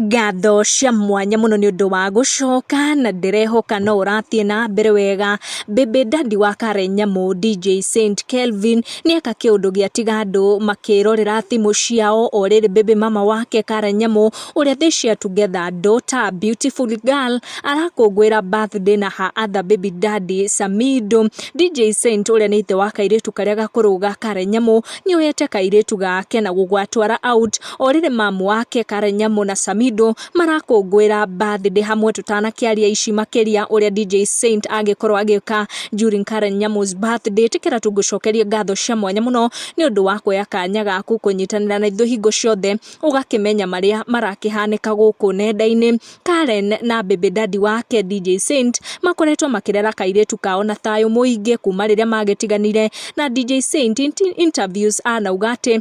Ngatho cia mwanya mũno nĩ ũndũ wa gũcoka na ndĩrehoka no ũrathiĩ na mbere wega. Baby Daddy wa Karen Nyamũ DJ Saint Kelvin nĩeka kĩũndũ gĩatiga andũ makĩrorera thimũ ciao o rĩrĩ baby mama wake Karen Nyamũ ũrĩa they share together daughter beautiful girl arakũngũĩra birthday na her other baby daddy Samido. DJ Saint ũrĩa nĩ ithe wa kairĩtu karĩa gakũrũ ga Karen Nyamũ nĩoyete kairĩtu gake na gũgatwara out. Orĩrĩ mamu wake Karen Nyamu na Samido marakũngũĩra birthday hamwe tũtanakĩaria ici makĩria ũrĩa DJ Saint angĩkorwo agĩka during Karen Nyamu's birthday tĩkĩra tũngũcokerie ngatho cia mwanya mũno nĩ ũndũ wa kuoya kanya gaku kũnyitanĩra na ithuĩ hingo ciothe ũgakĩmenya marĩa marakĩhanĩka gũkũ nenda-inĩ Karen na baby daddy wake DJ Saint makoretwo makĩrera kairĩtu kao na thayũ mũingĩ kuma rĩrĩa magĩtiganire na DJ Saint inti- interviews anauga atĩ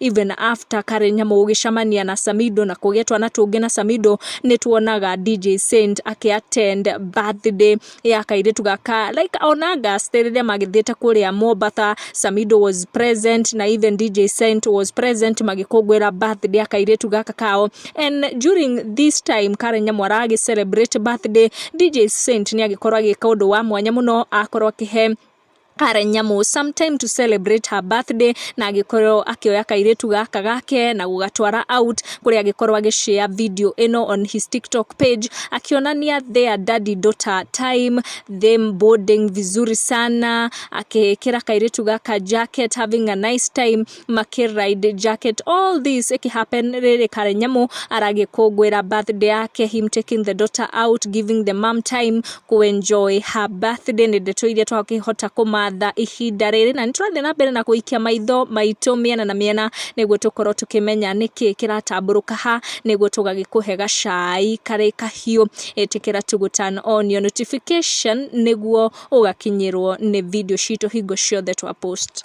even after Karen Nyamu gũgĩcamania na Samido na kũgĩa twana tũngĩ na Samido nĩ tuonaga DJ Saint akĩ attend birthday ya kairĩtu gaka like ona gaste rĩrĩa magĩthiĩte kũrĩa Mombasa Samido was present na even DJ Saint was present magĩkũngũĩra birthday ya kairĩtu gaka kao and during this time Karen Nyamu aragĩ celebrate birthday DJ Saint nĩ agĩkorwo agĩka ũndũ wa mwanya mũno akorwo akĩhe kare nyamũ some time to celebrate her birthday na agĩkorwo akĩoya kairĩtu gaka gake na gũgatwara out kũrĩa agĩkorwo agĩshare video ĩno on his tiktok page akĩonania their daddy daughter time them boarding vizuri sana akĩkĩra kairĩtu gaka jacket having a nice time makĩ ride jacket all this iki happen riri karenyamu aragikungwira birthday yake him taking the daughter out giving the mom time ku enjoy her birthday ni ndeto iria twakihota kumatha ihinda riri na niturathie na mbere na kuikia maitho maitå miena na miena niguo tukorwo tukimenya niki kiratamburuka ha niguo tugagikuhe gacai kari kahiu itikira tugu turn on your notification niguo ugakinyirwo ni video citu hingo ciothe twa post